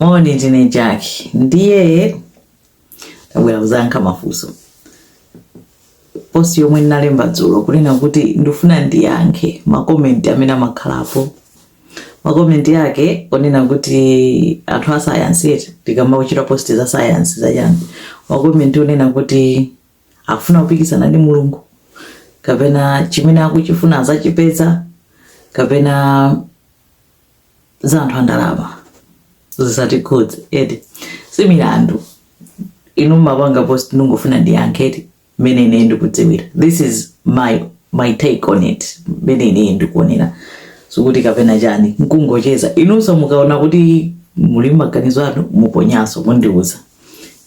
Moni ndine Jack ndiye tabwera kuzayankha mafunso post yomwe ndinalemba dzulo kunena kuti ndifuna ndiyankhe makomenti amene amakhalapo makomenti yake onena kuti anthu a sayansi eti tikamachita post za sayansi zachani makomenti onena kuti akufuna kupikisana ndi mulungu kapena chimene akuchifuna azachipeza kapena za anthu andalama zisatikhudze eti si milandu inu mmapanga post ndingofuna ndiyankhe eti mmene ine ndikudziwira this is my take on it mmene ine ndikuonera sikuti kapena chani nkungocheza inunso mukaona kuti muli maganizo anu muponyaso mundiuza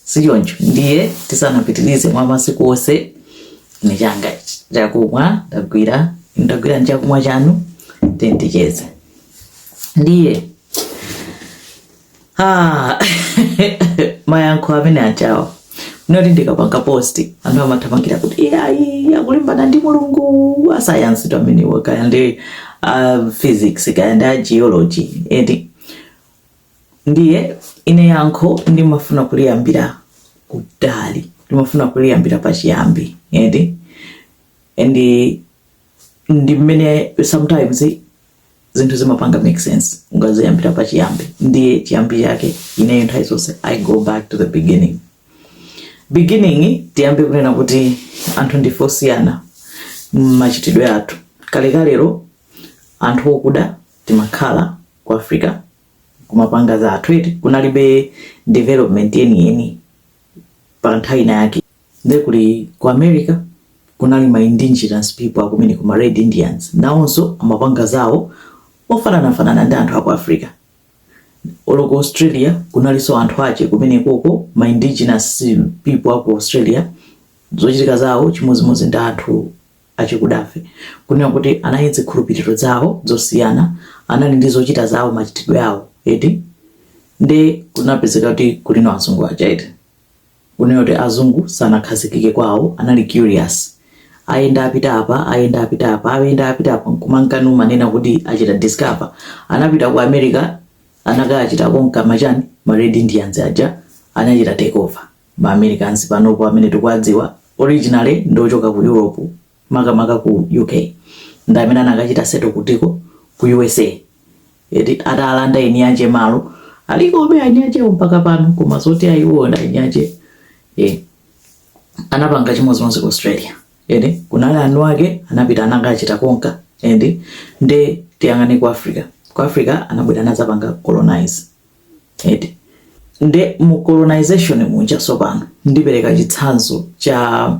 sichoncho ndiye tisanapitirize mwa masiku onse ni changa chakumwa ndagwira ndagwira nchakumwa chanu tendeni ticheze ndiye ah, mayankho amene achinawa oti ndikapanga posti anthu amathamangira kuti iyayi akulimbana ndi mulungu asayansi amenewo kaya ndi uh, physics kaya ndi ageology eti ndiye ine yankho ndimafuna kuliyambira kutali ndimafuna kuliyambira pachiyambi eti and ndi mmene sometimes zinthu zimapanga make sense ukaziyambira pachiyambi ndiye chiyambi chake ineyo nthawi zonse i go back to the beginning beginning tiyambe kunena kuti anthu ndife osiyana mmachitidwe athu kalekalero anthu okuda timakhala ku Africa kumapanga zathu eti kunalibe development yeniyeni pa nthawi ina yake nde kuli ku America kunali ma indigenous people akumeneko ma Red Indians nawonso amapanga zawo ofananafanana ndi anthu aku Africa olo ku Australia kunalinso anthu ake kumenekoko ma indigenous people aku Australia zochitika zawo chimodzimodzi ndi anthu achikudafe, kunena kuti, anali ndi zikhulupiriro zawo zosiyana, anali ndi zochita zawo, machitidwe awo, eti, nde kunapezeka kuti kulino azungu aja, eti, kunena kuti azungu sanakhazikike kwawo, anali curious, ayenda apita apa, ayenda apita apa, ayenda apita apa, nkumanka numanena kuti achita discover, anapita ku America, anakachita conquer machani, ma Red Indians aja, anachita take over. Ma Americans panopo amene tikuwadziwa originally ndi ochoka ku Europe makamaka ku UK ndi amene anakachita settle kutiko ku USA eti atalanda eni ake malo alikobe eni ake mpaka pano koma zoti ayiwo ndi eni ake eh anapanga chimodzimodzi ku Australia eti kunali eni ake anapita anakachita conquer eti nde tiyang'ane ku Africa ku Africa anabwera anadzapanga colonize eti nde mu colonization muja sopano ndipereka chitsanzo cha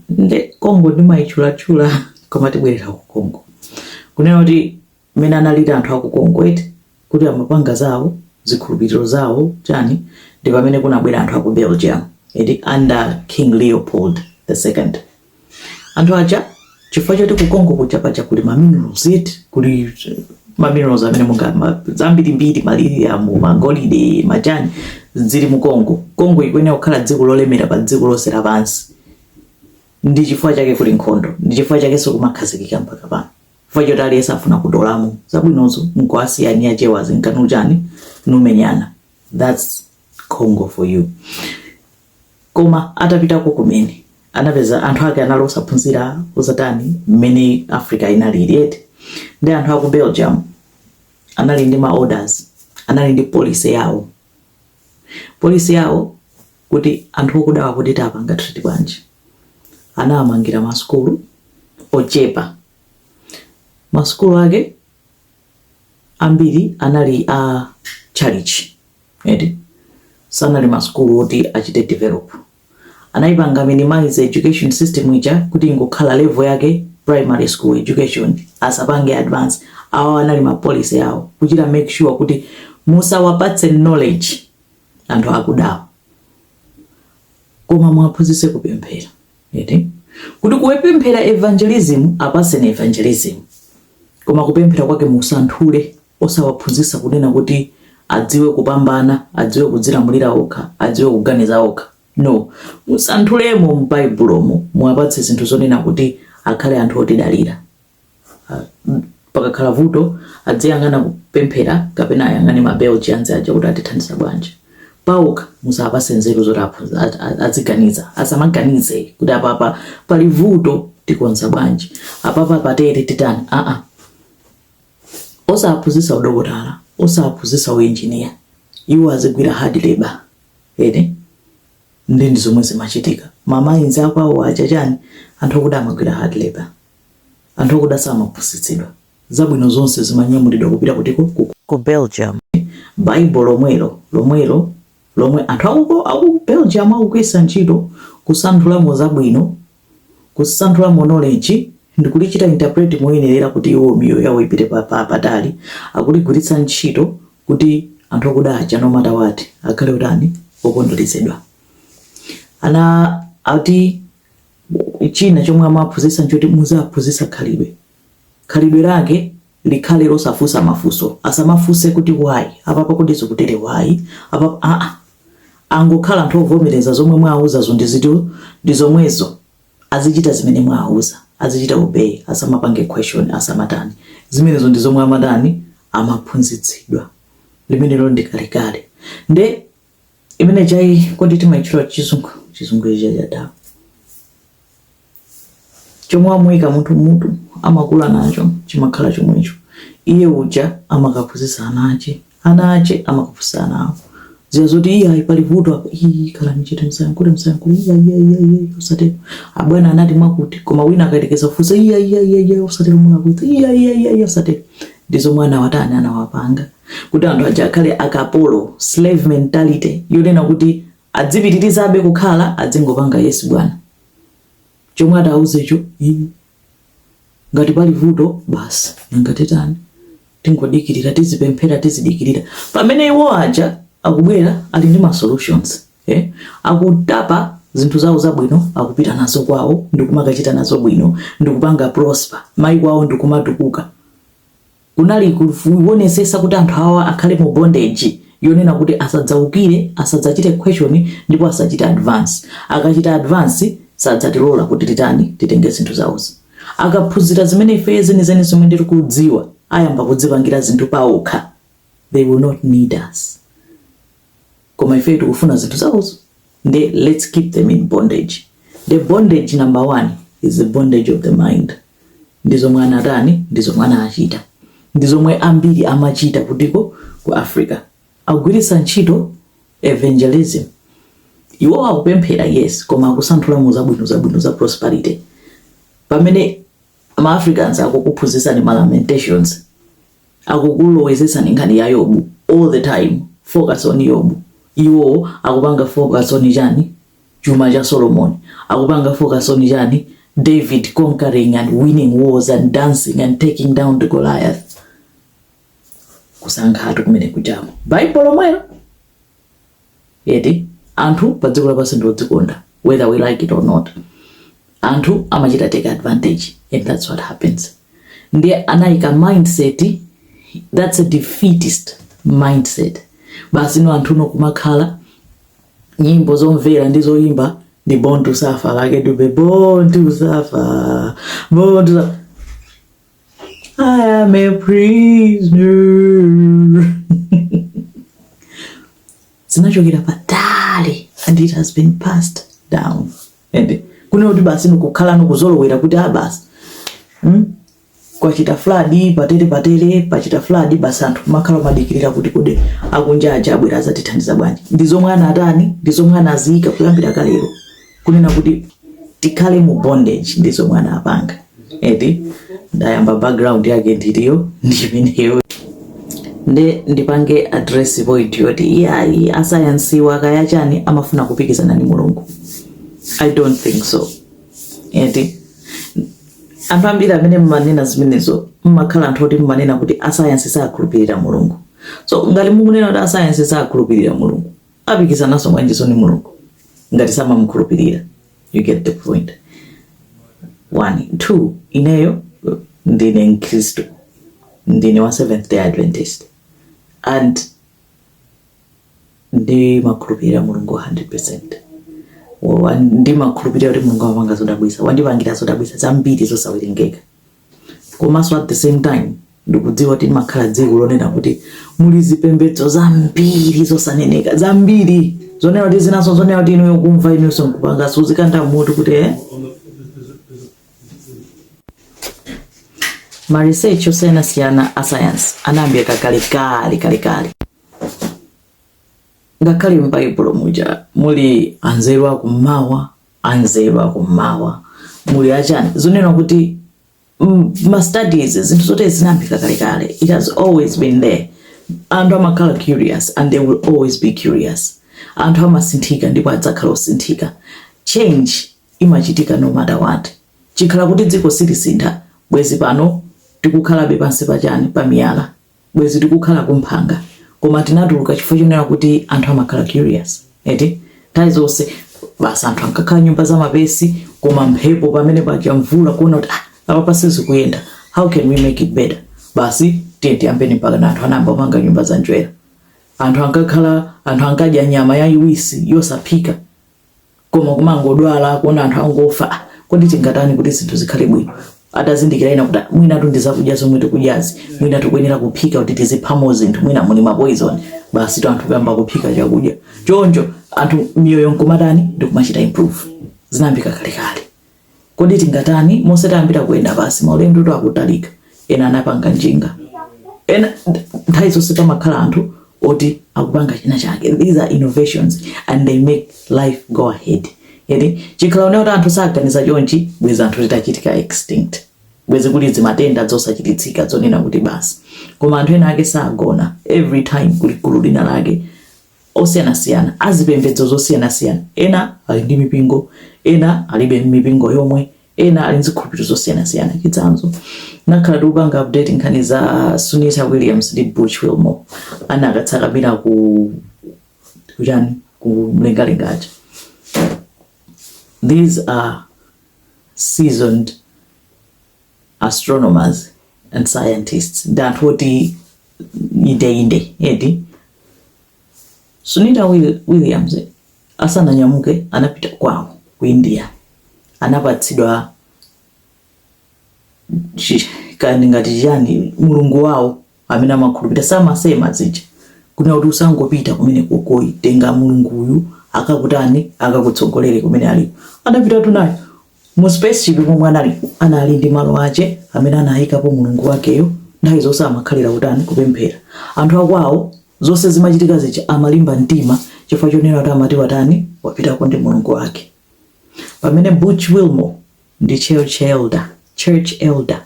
nde congo ndimayitchulatchula koma tibwerera ku congo kunena kuti mmene analili anthu aku congo eti kuti amapanga zawo zikhulupiriro zawo chani ndi pamene kunabwera anthu aku belgium eti under king leopold the second anthu aja chifukwa choti kukongo kuja paja kuli ma minerals eti kuli eh, ma minerals amene monga ma- zambirimbiri maliriamu magolide machani zili mu kongo kongo ikuyenera kukhala dziko lolemera pa dziko lonse lapansi ndi chifukwa chake kuli nkhondo ndi chifukwa chake sikumakhazikika mpaka pano chifukwa choti aliyense afuna kutolamo zabwinozo nkuwasiya eni akewa zinkhondo chani nkumenyana thats congo for you Koma atapitako kumene anapeza anthu ake anali osaphunzira osatani mmene Africa inalili eti ndi anthu aku Belgium anali ndi ma orders anali ndi policy yawo policy yawo kuti anthu okudawa kuti tiwapanga treat bwanji anawamangira masukulu ochepa masukulu ake ambiri anali a chalichi eti sanali masukulu oti achite develop anayipanga minimize education system ija kuti ingokhala level yake primary school education asapange advance awo anali ma policy awo kuchita make sure kuti musawapatse knowledge anthu akudawa koma muwaphunzitse kupemphera eti kuti kuwepemphera evangelism apatseni evangelism koma kupemphera kwake musanthule osawaphunzitsa kunena kuti adziwe kupambana, adziwe kudzilamulira okha, adziwe kuganiza okha. No. Musanthulemo m'Baibulomo, muwapatse zinthu zonena kuti akhale anthu otidalira. Ah, mm, Pakakhala vuto, adziyang'ana kupemphera kapena ayang'ane ma Belgians aja kuti atithandiza bwanji. Paokha musawapatse nzeru zoti aphunzi- a- a- aziganiza. Asamaganize kuti apapa pali vuto tikonza bwanji, apapa patere titani. Aa, osaphunzitsa udokotala osaphunzitsa uinjiniya iwo azigwira hard labor ene ndi ndi zomwe zimachitika mamayinzi akwawo aja chani anthu okuda amagwira hard labor anthu okuda samaphunzitsidwa zabwino zonse zimanyamulidwa kupita kutiko ku ku belgium bible lomwelo lomwelo lomwe anthu akuko aku belgium akugwiritsa ntchito kusanthulamo zabwino kusanthulamo knowledge ndikulichita interpret moyenerera kuti iwo miyoyo yawo ipite pa, pa, patali akuligwiritsa ntchito kuti anthu akuda aja no matter what akhale utani okontroledwa ana ati china chomwe amaphunzitsa nchoti muziwaphunzitsa khalidwe khalidwe lake likhale losafunsa mafunso asamafunse kuti why apapa kodi zokutere why apapa aa angokhala anthu ovomereza zomwe mwawauzazo ndi ziti ndi zomwezo azichita zimene mwawauza azichita obey asamapange question asamatani zimenezo ndi zomwe amatani amaphunzitsidwa limenelo ndi kalekale nde imene chai kodi timaitchula chizungu chizungu ichi chadala chomwe amuika munthu mutu amakula nacho chimakhala chomwecho iye uja amakaphunzitsa ana ache ana ache amakaphunzitsa ana awo ziya zoti iye ayi pali vuto apa iyi khalani chete msayankhule msayankhule iya iya iya iya usatero abwana anati mwakuti koma wina akayerekeza kufunsa iya iya iya iya usatero mulakwitsa iya iya iya iya usatero ndi zomwe anawatani anawapanga kuti anthu aja akhale akapolo slave mentality yonena kuti adzipitirizabe kukhala adzingopanga yes bwana chomwe atawauzecho ngati pali vuto basi nanga titani tingodikirira tizipemphera tizidikirira pamene iwo aja akubwera ali ndi ma solutions eh? akutapa zinthu zawo zabwino akupita nazo kwawo ndikumakachita nazo bwino ndikupanga prosper maiko awowo ndikumatukuka Kunali kuwonesesa kuti anthu awa akhale mu bondage yonena kuti asadzawukire, asadzachite question ndipo asachite advance. Akachita advance sadzatilola kuti titani, titenge zinthu zawozi. Akaphunzira zimene ifeyo zenizeni zomwe tirikudziwa ayamba kudzipangira zinthu pawokha they will not need us. koma ifeyo tikufuna zinthu zawozi nde let's keep them in bondage the bondage number one is the bondage of the mind ndi zomwe anatani ndi zomwe anachita ndi zomwe ambiri amachita kutiko ku africa akugwiritsa ntchito evangelism iwo akupemphera yes koma akusanthulamo zabwino zabwino za prosperity pamene ma africans akukuphunzitsani ma lamentations akukulowezetsani nkhani ya yobu all the time focus on yobu iwo akupanga focus on chani chuma cha solomon akupanga focus on chani david conquering and winning wars and dancing and taking down the goliath kusankhatu kumene kuja mu baibulo lomwelo eti anthu pa dziko lapansi ndi odzikonda whether we like it or not anthu amachita take advantage and that's what happens ndiye anayika mindset that's a defeatist mindset basi no anthu no kumakhala nyimbo zomvera ndi zoyimba ndi born to suffer Lucky Dube born to suffer born to suffer I am a prisoner. zinachokera patali and it has been passed down ende kune kuti basi nikukhala nikuzolowera kuti ah basi hmm? kwachita fladi patele patele pachita fladi basi anthu kumakhala kumadikirira kuti kodi akunja aja abwera azatithandiza bwanji ndi zomwe anatani ndi zomwe anaziyika kuyambira kalero kunena kuti tikhale mu bondage ndi zomwe anapanga eti ndiye amba background yake ndiliyo ndimeneyo nde ndipange address point yoti iyayi asayansiwa kaya chani amafuna kupikisana ndi mulungu i don't think so eti anthu ambiri amene mmanena zimenezo mmakhala anthu oti mmanena kuti asayansi sakhulupirira mulungu so ngati mukunena kuti asayansi sakhulupirira mulungu Apikisanaso bwanjiso ndi Mulungu ngati samamukhulupirira? You get the point. One, two, ineyo ndine Mkristu, ndine wa Seventh Day Adventist and ndimakhulupirira Mulungu 100%. Ndimakhulupirira kuti Mulungu amapanga zodabwisa, wandipangira zodabwisa zambiri zosawerengeka. komanso at the same time ndikudziwa kuti timakhala dziko lonena kuti muli zipembedzo zambiri zosaneneka zambiri zonena kuti zinaso zonena kuti inuyo kumva inuyonso nkupangaso kuzikanda mutu kuti eh? ma research osiyanasiyana a sayansi anayambika kakalekale kalekale ngakhale m'baibulo muja muli anzeru akummawa anzeru akummawa muli achani zonena kuti mm, ma studies zinthu zonsezi zinayambika kalekale it has always been there anthu amakhala curious and they will always be curious anthu amasinthika ndipo adzakhala osinthika change imachitika no matter what chikhala kuti dziko silisintha bwezi pano tikukhalabe pansi pachani pamiyala bwezi tikukhala kumphanga koma tinatuluka chifukwa chonena kuti anthu amakhala curious eti nthawi zonse basi anthu ankakhala nyumba za mapesi koma mphepo pamene paja mvula kuona kuti ah, apapa sizikuyenda how can we make it better basi tiye- tiyambeni mpaka na anthu anayamba kupanga nyumba za njwera anthu ankakhala anthu ankadya nyama yayiwisi yosaphika koma kumangodwala kuona anthu angofa ah, kodi tingatani kuti zinthu zikhale bwino atazindikira wina kuti ah, mwinatu ndi zakudya zomwe tikudyazi mwina tikuyenera kuphika kuti tiziphamo zinthu mwina muli mapoizoni basitu anthu kuyamba kuphika chakudya choncho anthu miyoyo nkumatani ndikumachita improve zinayambika kalekale Kodi tingatani? Monse tayambira kuyenda basi, maulendotu akutalika. Ena anapanga njinga, ena nthawi zonse pamakhala anthu oti akupanga china chake. These are innovations and they make life go ahead. Eti chikhala kunena kuti anthu saganiza chonchi, bwezi anthu titachitika extinct, bwezi kuli dzimatenda dzosachiritsika dzonena kuti basi. Koma anthu ena ake sagona, every time kuli gulu lina lake osiyanasiyana, a zipembedzo zosiyanasiyana, ena ali ndi mipingo, ena alibe mipingo yomwe, ena ali ndi zikhulupiriro zosiyanasiyana. Chitsanzo, nakhala tikupanga update nkhani za Sunita Williams ndi Butch Wilmore anakatsakamira ku ku chani ku mlengalenga aja. These are seasoned astronomers and scientists ndi anthu oti indeinde eti sunita Will- williams asananyamuke anapita kwawo ku india anapatsidwa chi- kani ngati chiyani mulungu wawo amene amakhulupirira zimasemedwa zija kunena kuti usangopita kumenekuko ayi tenga mulungu uyu akakutani akakutsogolere kumene aliko adapitatu naye Mu spaceship momwe anali anali ndi malo ache amene anaikapo Mulungu wakeyo nthawi zonse amakhalira kutani kupemphera. Anthu a kwao zonse zimachitika zija amalimba mtima chifukwa chonena kuti amati watani wapitako ndi Mulungu wake. Pamene Butch Wilmore ndi church elder church elder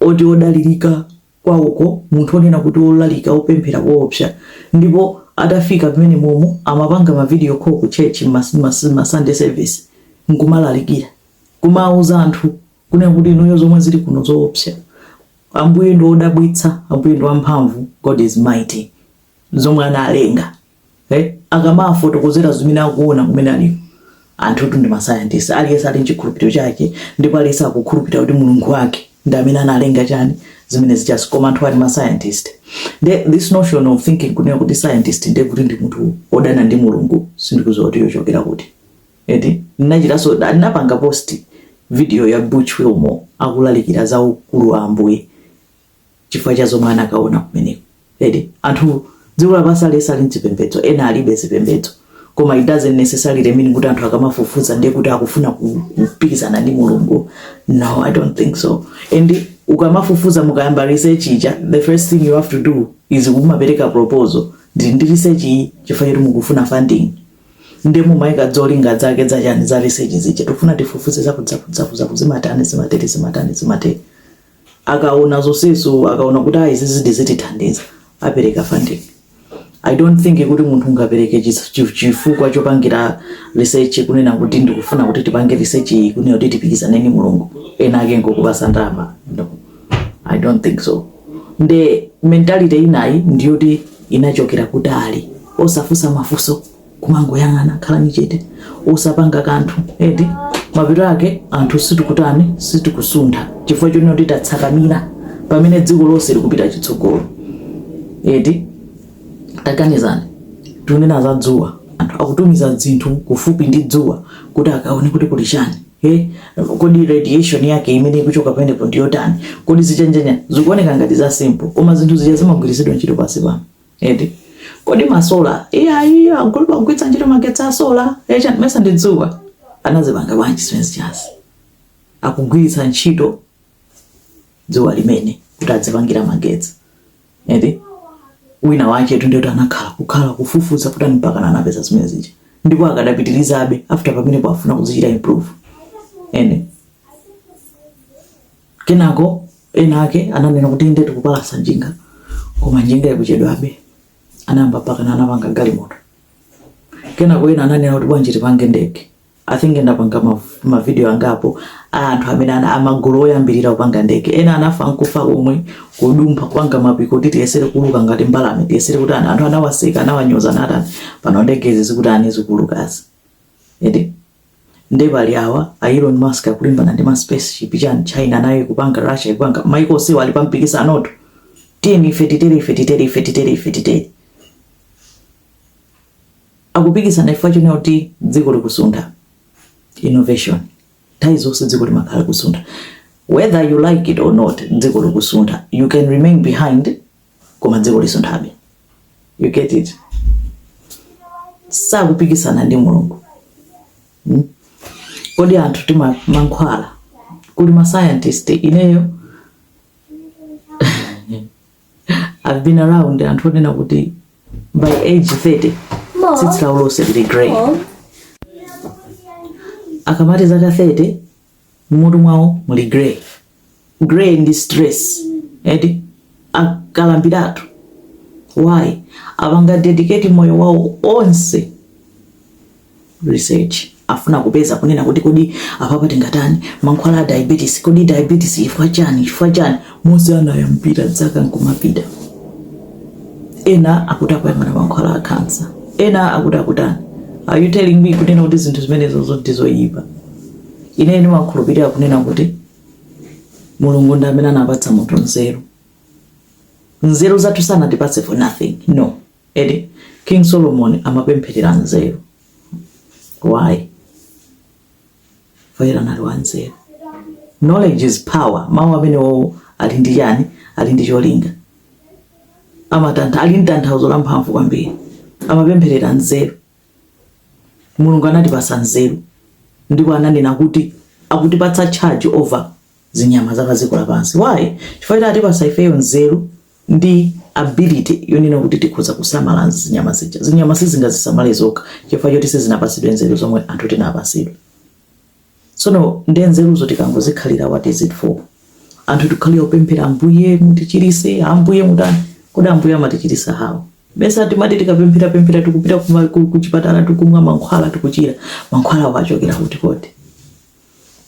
oti odalirika kwawoko, munthu onena kuti wolalika opemphera koopsa ndipo atafika mmenemomo amapanga ma video call ku church mma sunday service nkumalalikira kumauza anthu kunena kuti inuyo zomwe zili kuno zoopsa ambuye ndi odabwitsa ambuye ndi wamphamvu God is mighty zomwe analenga. Eh, akamafotokozera zimene akuona kumene aliko anthutu ndi ma scientist aliyense ali nchikhulupiriro chake ndipo aliyense akukhulupirira kuti mulungu wake ndi amene analenga chani zimene zijazi koma anthu ali ma scientist nde this notion of thinking kunena kuti scientist nde kuti ndi munthu odana ndi mulungu sindikudziwa kuti yochokera kuti eti ndinachitanso ndinapanga post video ya butch wilmore akulalikira za ukulu wa ambuye chifukwa cha zomwe anakaona kumeneko eti anthu dziko lapansi aliyense ali mchipembedzo ena alibe zipembedzo koma it doesn't necessarily mean kuti anthu akamafufuza ndiye kuti akufuna ku- kupikisana ndi mulungu no i don't think so and ukamafufuza mukayamba research ija the first thing you have to do is kumapereka proposal ndili ndi research iyi chifukwa choti mukufuna funding nde mumayika zolinga zake zachani za research zija tikufuna tifufuze zakuti zakuti zakuti zimatani zimatere zimatani zimatere akaona zonsezo akaona kuti ayi izizi zidzatithandiza apereka funding i don't think kuti munthu ungapereke chis- chi- chifukwa chopangira research kunena kuti ndikufuna kuti tipange research iyi kunena kuti tipikisane ndi mulungu ena ake nkukupatsa ndalama no i don't think so nde mentality inayo ndiyoti inachokera kutali osafunsa mafunso kumangoyang'ana khalani chete osapanga kanthu eti mapeto ake anthu sitikutani sitikusuntha chifukwa chonena kuti tatsakamira pamene dziko lonse likupita chitsogolo eti taganizani tikunena za dzuwa anthu akutumiza zinthu kufupi ndi dzuwa kuti akaone kuti kuli chani Hey, kodi radiation yake imene ikuchoka pamenepo ndiyotani kodi zichani chani zikuoneka ngati za simple koma zinthu zija zimagwiritsidwa ntchito pansi pano eti kodi masola iyayi akuluakulu mugwiritsa ntchito magetsi asola aja mesa ndi dzuwa anazipanga bwanji zimezijazi akugwiritsa ntchito dzuwa limene kuti azipangira magetsi eti winawaketu ndiyo anakhala kukhala kufufuza kuti mpaka anapeza zimene zija ndipo akadapitirizabe mpaka panopa afuna kuzichita improve eti Kenako ena ake ananena kuti inde tikupalasa njinga koma njinga ikuchedwabe. Anayamba mpakana anapanga galimoto. Kenako ena ananena kuti bwanji tipange ndege. I think ndapanga mavidiyo angapo a anthu amene ana amagulu oyambirira kupanga ndege. Ena anafa nkufa komwe kudumpha kupanga mapiko kuti tiyesere kuuluka ngati mbalame tiyesere kuti anthu anawaseka anawanyoza ndi chani pano ndege izi zikutani zikuulukazi. Eti. Nde pali awa a Elon Musk akulimbana ndi ma space ship chani China nayo ikupanga Russia ikupanga maiko onsewa ali pa mpikisanotu tiyeni ife titere ife titere ife titere ife titere akupikisana chifukwa chonena kuti dziko likusuntha innovation nthawi zonse dziko limakhala kusuntha whether you like it or not dziko likusuntha you can remain behind koma dziko lizisunthabe you get it sakupikisana ndi mulungu hmm? kodi anthu timamwa mankhwala kuli ma scientist ineyo I've been around anthu onena kuti by age 30 tsitsi lawo lonse lili grey akamati zaka 30 mmutu mwawo muli grey grey ndi stress eti akalambiratu why apanga dedicate moyo wawo onse research afuna kupeza kunena kuti kodi apapa tingatani mankhwala a diabetes kodi diabetes ifwa chani ifwa chani momwe anayambira dzaka nkumapita ena akuti akuyang'ana mankhwala a kansa ena akuti akutani are you telling me kunena kuti zinthu zimenezo zoti zoyipa Ine ndimakhulupirira kunena kuti Mulungu ndi amene anapatsa munthu nzeru. Nzeru zathu sanatipatse for nothing. No. Ede, King Solomon amapempherera nzeru. Why? Fayira anali wa nzeru. Knowledge is power. Mawu amenewowo ali ndi chani, ali ndi cholinga. Amatantha, ali ndi tanthauzo la mphamvu kwambiri. Amapempherera nzeru. Mulungu anatipasa nzeru ndipo ananena kuti akutipatsa charge over zinyama za padziko lapansi. Why? Chifukwa choti atipasa ifeyo nzeru ndi ability yonena kuti tikhoza kusamala zinyama zija. Zinyama sizingazisamale zokha chifukwa choti sizinapasidwe nzeru zomwe anthu tinapasidwa. Tsono nde nzeruzo tikangozikhalira what is it for? Anthu tikukhalira kupemphera Ambuye mutichiritse, Ambuye mutani. Kodi Ambuye amatichiritsa how? Mesa timati tikapempherapemphera tikupita kuma- ku- kuchipatala tikumwa mankhwala tikuchira. Mankhwalawo achokera kuti kodi?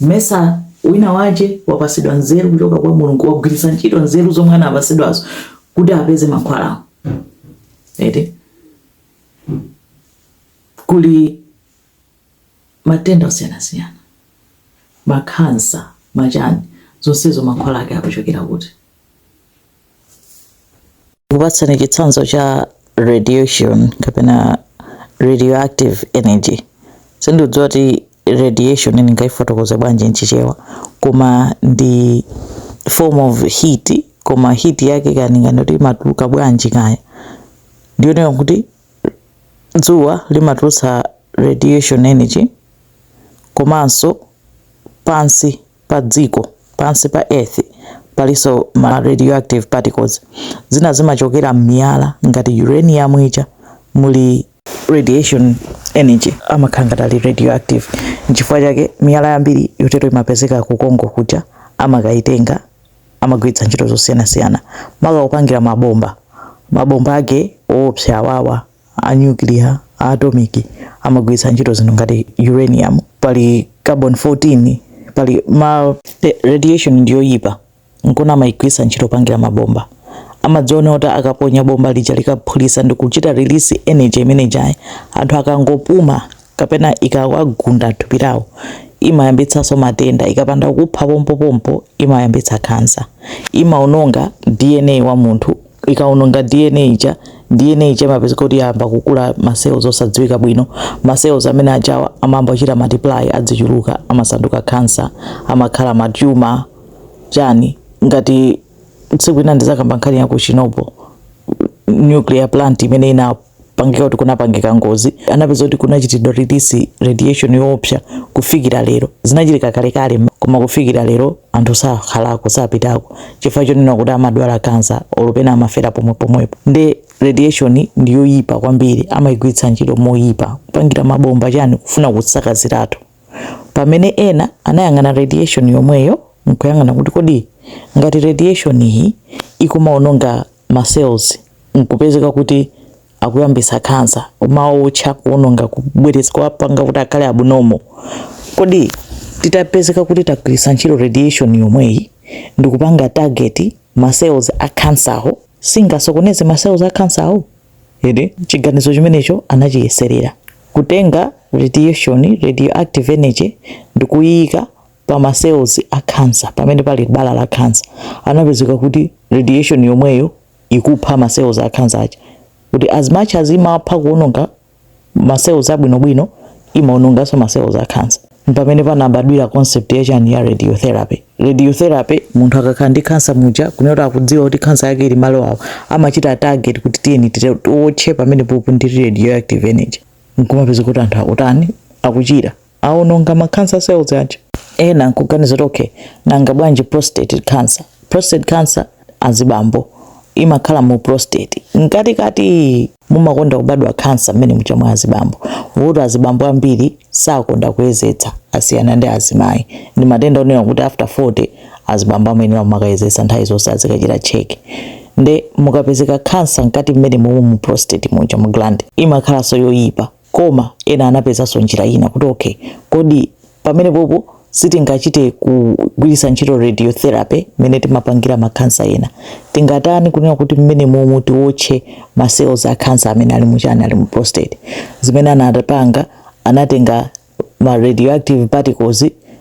Mesa winawake wapasidwa nzeru kuchoka kwa Mulungu wagwiritsa ntchito nzeru zomwe anapasidwazo kuti apeze mankhwalawo. Eti kuli matenda osiyanasiyana, makhansa, machani, zonsezo mankhwala ake akuchokera kuti? Ndikupatsani chitsanzo cha radiation kapena radioactive energy. Sindidziwa kuti radiation ndingaifotokoze bwanji m'Chichewa, koma ndi form of heat koma heat yake kani ngati imatuluka bwanji kaya ndiyo kuti dzuwa limatulutsa radiation energy komanso pansi pa dziko pansi pa earth palinso ma radioactive particles zina zimachokera m'miyala ngati uranium ija muli radiation energy amakhala ngati ali radioactive nchifukwa chake miyala yambiri yotero imapezeka ku congo kuja amakayitenga amagwiritsa ntchito zosiyanasiyana maka kupangira mabomba mabomba ake oopsa awawa a nuclear a atomic amagwiritsa ntchito zinthu ngati uranium pali carbon 14 pali ma eh, radiation ndiyoyipa nkona amayigwiritsa ntchito popangira mabomba amadziwa kuti akaponya bomba lija likaphulisa ndikuchita release energy imene ijayi anthu akangopuma kapena ikawagunda thupi lawo imayambitsanso matenda ikapanda kukupha pompopompo imayambitsa khansa imaononga dna wa munthu ikaononga dna ija dna ija imapezeka kuti yayamba kukula macells osadziwika bwino macells amene ajawa amayamba kuchita multiply adzichuluka amasanduka khansa amakhala matumor chani ngati tsiku ina ndizakamba nkhani ya ku Chernobyl nuclear plant imene ina pangika kuti kunapangika ngozi anapeza kuti kunachitidwa release radiation yoopsa kufikira lero zinachitika kalekale koma kufikira lero anthu sakhalako sapitako chifukwa chonena kuti amadwala kansa olo pena amafera pomwe pomwepo nde radiation ndi yoyipa kwambiri amayigwiritsa ntchito moyipa kupangira mabomba chani kufuna kusakaziratu pamene ena anayang'ana radiation yomweyo nkuyang'ana kuti kodi ngati radiation iyi ikumaononga ma cells nkupezeka kuti akuyambisa khansa kumaotcha kuononga kubweretsa kuwapanga kuti akhale abnormal kodi titapezeka kuti tagwiritsa ntchito radiation yomweyi ndikupanga target ma cells a cancer wo singasokoneze ma cells a cancer wo chiganizo chimenecho anachiyeserera kutenga radiation radioactive energy ndikuyika pa ma cells a cancer pamene pali bala la cancer anapezeka kuti radiation yomweyo ikupha ma cells a khansa aja kuti as much as imapha kuononga ma cells abwinobwino imaononganso ma cells a khansa mpamene panabadwira concept ya chani ya radiotherapy radiotherapy munthu akakhala ndi khansa muja kunena kuti akudziwa kuti khansa yake ili malo awo amachita target kuti tiyeni tite- tiwotche pamene popo ndi radioactive energy nkumapezeka kuti anthu akutani akuchira awononga ma cancer cells aja. Ena nkuganiza kuti okay, nanga bwanji prostate cancer? Prostate cancer azibambo imakhala mu prostate mkatikati mumakonda kubadwa cancer mmene muja mwa azibambo kuti azibambo ambiri sakonda kuyezetsa asiyana ndi azimayi ndi matenda onena kuti after 40 azibambo amayenera kumakayezetsa nthawi zonse azikachita check nde mukapezeka cancer mkati mmene mumu mu prostate muja mu gland imakhalanso yoyipa Koma ena anapezanso njira ina kuti okay, kodi pamenepopo sitingachite kugwiritsa ntchito radiotherapy mmene timapangira makhansa ena tingatani kunena kuti mmene momo tiwotche ma cells a khansa amene ali muchani ali mu prostate zimene anapanga anatenga ma radioactive particles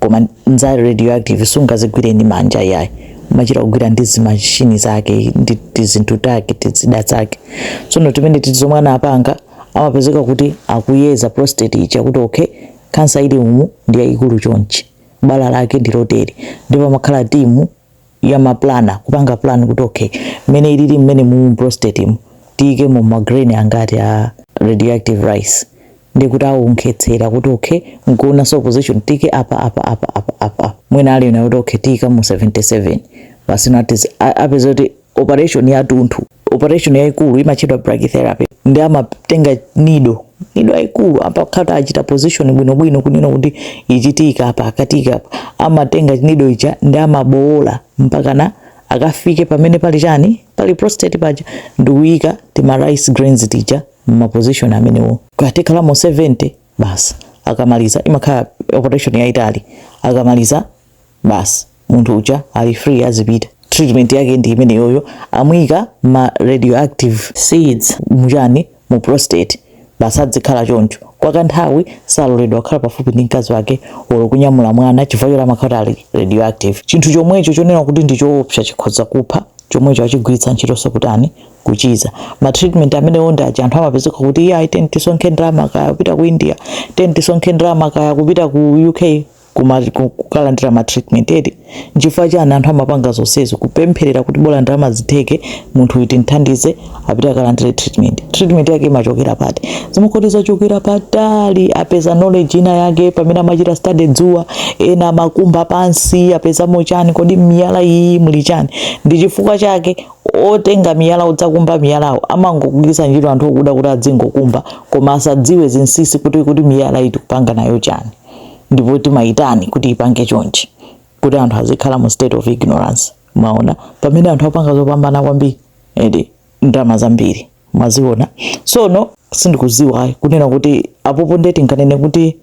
koma nza radioactive sungazigwire ndi manja iyayi umachita kugwira ndi zimashini zake ndi tizinthu take tizida zake tsono timene titi zomwe anapanga amapezeka kuti akuyeza prostate ija kuti okay kansa ili umu ndi yayikulu chonchi bala lake ndi lotere ndipo amakhala timu ya ma planner kupanga plan kuti okay mmene ilili mmene mu prostate mu tiikemo ma grain angati a radioactive rice ndi kuti aonetsetsa kuti okay nkuonanso position tiike apa apa apa apa apa mwina anena kuti okay tiikamo 77 basi nati apeza kuti operation yatunthu operation yaikulu imatchedwa brachytherapy ndi amatenga nido nido yaikulu akatha achita position bwino bwino kunena kuti ichi tiika apa aka tiika apa amatenga nido ija ndi amabowola mpaka na akafike pamene pali chani pali prostate paja ndikuyika tima rice grains tija mma position amenewo kaya tikhalamo 70 basi akamaliza imakhala operation yaitali akamaliza basi munthu uja ali free azipita treatment yake ndi imeneyoyo amuyika ma radioactive seeds muchani mu prostate basi adzikhala choncho kwa kanthawi saloledwa kukhala pafupi ndi mkazi wake olo kunyamula mwana chifukwa choti amakhala ali radioactive chinthu chomwecho chonena kuti ndi choopsa chikhoza kupha chomwecho achigwiritsa ntchitonso kutani kuchiza ma treatment amenewo ndi aja anthu amapezeka kuti iye ayi tiyeni tisonkhe ndalama kaya kupita ku india tiyeni tisonkhe ndalama kaya kupita ku uk kuma- ku- kukalandira ma treatment eti nchifukwa chani anthu amapanga zonsezo kupempherera kuti bola ndalama zitheke munthu uyu timthandize apite akalandire treatment treatment yake imachokera pati zimakhala kuti zachokera patali apeza knowledge ina yake pamene amachita study dzuwa ena amakumba pansi apezamo chani kodi miyala iyi muli chani ndi chifukwa chake otenga miyala odzakumba miyalawo amangogwiritsa ntchito anthu okuda kuti adzingokumba koma asadziwe zinsisi kuti kuti miyala iyi tikupanga nayo chani ndipo timayitani kuti ipange chonchi kuti anthu azikhala mu state of ignorance mwaona pamene anthu apanga zopambana kwambiri eti ndalama zambiri mwaziona sono sindikuziwa ayi kunena kuti apopo nde tinganene kuti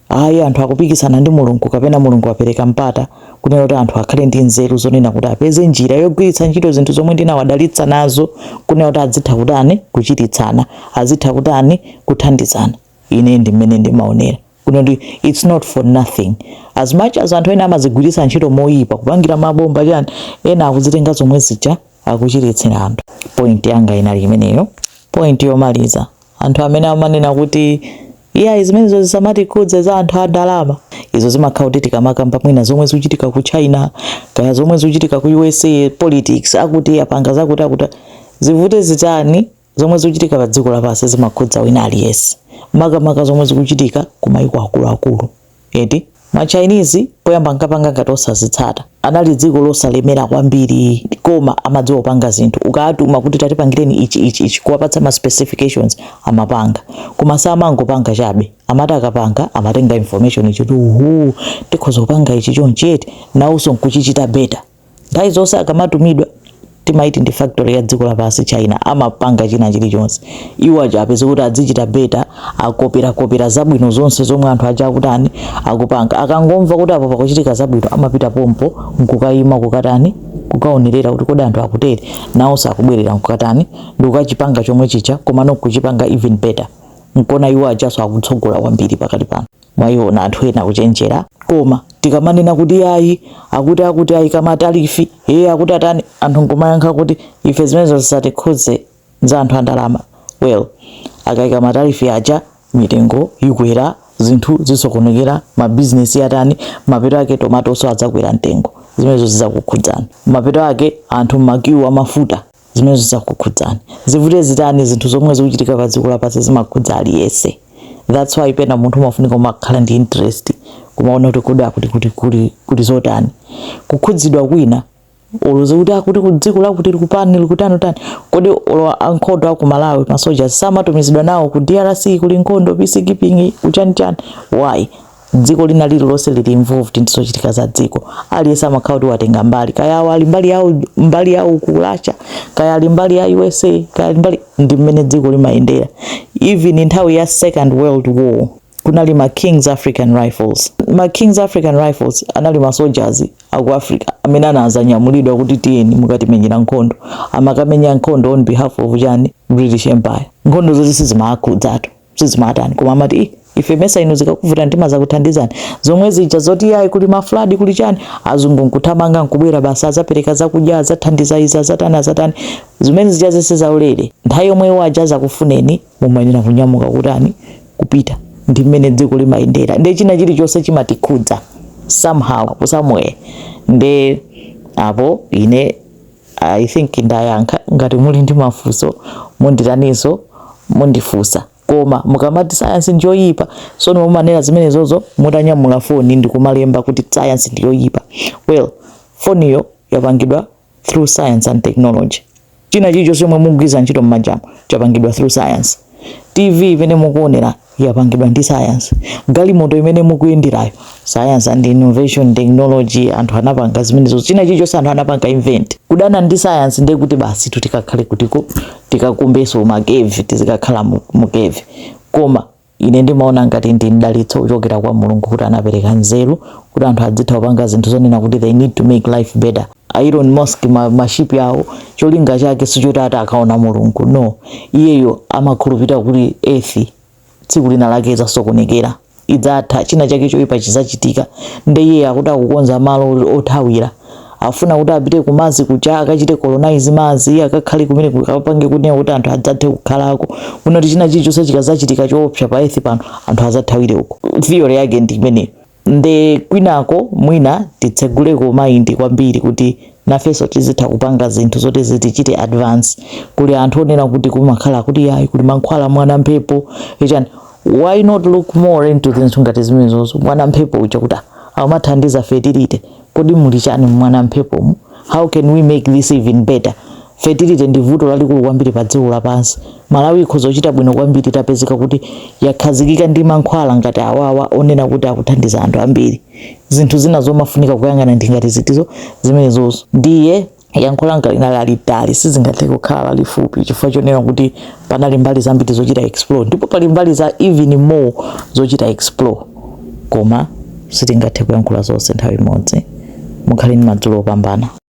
ayi anthu akupikisana ndi mulungu kapena mulungu apereka mpata kunena kuti anthu akhale ndi nzeru zonena kuti apeze njira yogwiritsa ntchito zinthu zomwe ndinawadalitsa nazo kunena kuti azitha kutani kuchiritsana azitha kutani kuthandizana ine ndi mmene ndimaonera kunena kuti it's not for nothing as much as anthu ena amazigwiritsa ntchito moyipa kupangira mabomba chani ena akuzitenga zomwe zija akuchiritsira anthu point yanga inali imeneyo point yomaliza anthu amene amanena kuti iya zimenezo zisamatikhudze za anthu a ndalama izo zimakhala kuti tikamakamba mwina zomwe zikuchitika ku china kaya zomwe zikuchitika ku usa politics akuti apanga zakuti akuti zivute zitani Zomwe zikuchitika pa dziko lapansi zimakhudza wina aliyense, makamaka zomwe zikuchitika ku mayiko akuluakulu eti. Ma Chinese poyamba ankapanga ngati osazitsata, anali dziko losalemera kwambiri koma amadziwa kupanga zinthu, ukawatuma kuti tatipangireni ichi ichi ichi kuwapatsa ma specifications amapanga. Koma samangopanga chabe, amati akapanga amatenga information kuti ooh tikhoza kupanga ichi chonchi eti, nawonso nkuchichita better. nthawi zonse akamatumidwa timati ndi factory ya dziko lapansi China amapanga china chilichonse iwo aja apeze kuti adzichita better akoperakopera zabwino zonse zomwe anthu aja akutani akupanga akangomva kuti apo pakuchitika zabwino amapita pompo nkukayima kukatani kukaonerera kuti kodi anthu akutere nawonso akubwerera nkukatani ndikukachipanga chomwe chija komano kuchipanga even better nkona iwo ajaso akutsogola kwambiri pakati pano mwaona anthu ena akuchenjera koma tikamanena kuti ayi akuti akuti aika matalifi ee akuti atani anthu nkumayankha kuti ife zimenezo zisatikhudze za anthu andalama well akaika matalifi aja mitengo ikwera zinthu zisokonekera mabizinesi atani mapeto ake tomatoso adzakwera mtengo zimenezo zizakukhudzani mapeto ake anthu mmakiwu amafuta zimenezo zidzakukhudzani zivute zitani zinthu zomwe zikuchitika pa dziko lapansi zimakhudza aliyese that's why pena munthu umafunika kumakhala ndi interest kumaona kuti kodi akuti kuti kuli kuli zotani kukhudzidwa kwina udziwe kuti akuti ku dziko lakuti likupani likutani utani kodi olo ankhondo aku Malawi masoja samatumizidwa nawo ku DRC kuli nkhondo peacekeeping kuchanichani why dziko lina lililonse lili involved ndi zochitika za dziko aliyense amakhala kuti watenga mbali kaya awo ali mbali yawo mbali yawo ku Russia kaya ali mbali ya USA kaya ali mbali ndi mmene dziko limayendera even nthawi ya second world war kunali ma Kings African Rifles ma Kings African Rifles anali ma soldiers aku Africa amene anazanyamulidwa kuti tiyeni mukatimenyere nkhondo amakamenya nkhondo on behalf of chani British Empire nkhondo zoti sizimawakhudzatu sizimatani koma amati "Ih, ife mesa inu zikakuvuta timazakuthandizani zomwe zija zoti yayi kuli mafuladi kuli chani azungu nkuthamanga nkubwera basi adzapereka zakudya azathandiza izi azatani azatani zimene zija zese zaulere nthawi yomwe iwo aja adzakufuneni mumayenera kunyamuka kutani kupita ndi mmene dziko limayendera nde china chilichonse chimatikhudza somehow somewhere nde apo ine I think ndayankha, ngati muli ndi mafunso munditaninso mundifunsa. Koma mukamati sayansi ndiyoyipa, tsono mumanena zimenezozo mutanyamula foni ndi kumalemba kuti sayansi ndi yoyipa. Well, foniyo yapangidwa through science and technology. China chilichonse chomwe mukugwiritsa ntchito m'manjamo chapangidwa through science. TV imene mukuonerayi. yapangidwa ndi science galimoto imene mukuyenderayo science and innovation technology anthu anapanga zimenezo china chilichonse anthu anapanga invent kudana ndi science ndiye kuti basitu tikakhale kuthengo tikakumbenso makevi tizikakhala mu- mukevi koma ine ndimaona ngati ndi mdalitso kuchokera kwa Mulungu kuti anapereka nzeru kuti anthu adzitha kupanga zinthu zonena kuti they need to make life better a Elon Musk ma ma ship awo cholinga chake sichoti ati akaona Mulungu no iyeyo amakhulupirira kuti earth tsiku linalake idzasokonekera idzatha china chake choipa chizachitika nde iye akuti akukonza malo othawira afuna kuti apite ku Mars kuja akachite colonize Mars akakhale kumeneko akapange kunena kuti anthu adzathe kukhalako kunoti china chilichonse chikazachitika choopsa pa earth pano anthu azathawire uko theory yake ndi imeneyo nde kwinako mwina titseguleko mind kwambiri kuti nafenso tizitha kupanga zinthu zoti zitichite advance kuli anthu onena kuti kumakhala kuti yayi kuli mankhwala mwana mphepo chani why not look more into zinthu ngati zimenezozo mwana mphepo uja kuti ah, amathandiza fertility kodi muli chani m'mwana mphepomu how can we make this even better fertility ndi vuto lalikulu kwambiri pa dziko lapansi malawi ikhoza kuchita bwino kwambiri itapezeka kuti yakhazikika ndi mankhwala ngati awawa onena kuti akuthandiza anthu ambiri zinthu zina zomafunika kuyang'ana ndi ngati zitizo zimenezozo ndiye yankho langa linali lalitali sizingathe kukhala lalifupi chifukwa chonena kuti panali mbali zambiri zochita explore ndipo pali mbali za even more zochita explore koma sitingathe kuyankhula zonse nthawi imodzi mukhale ndi madzulo opambana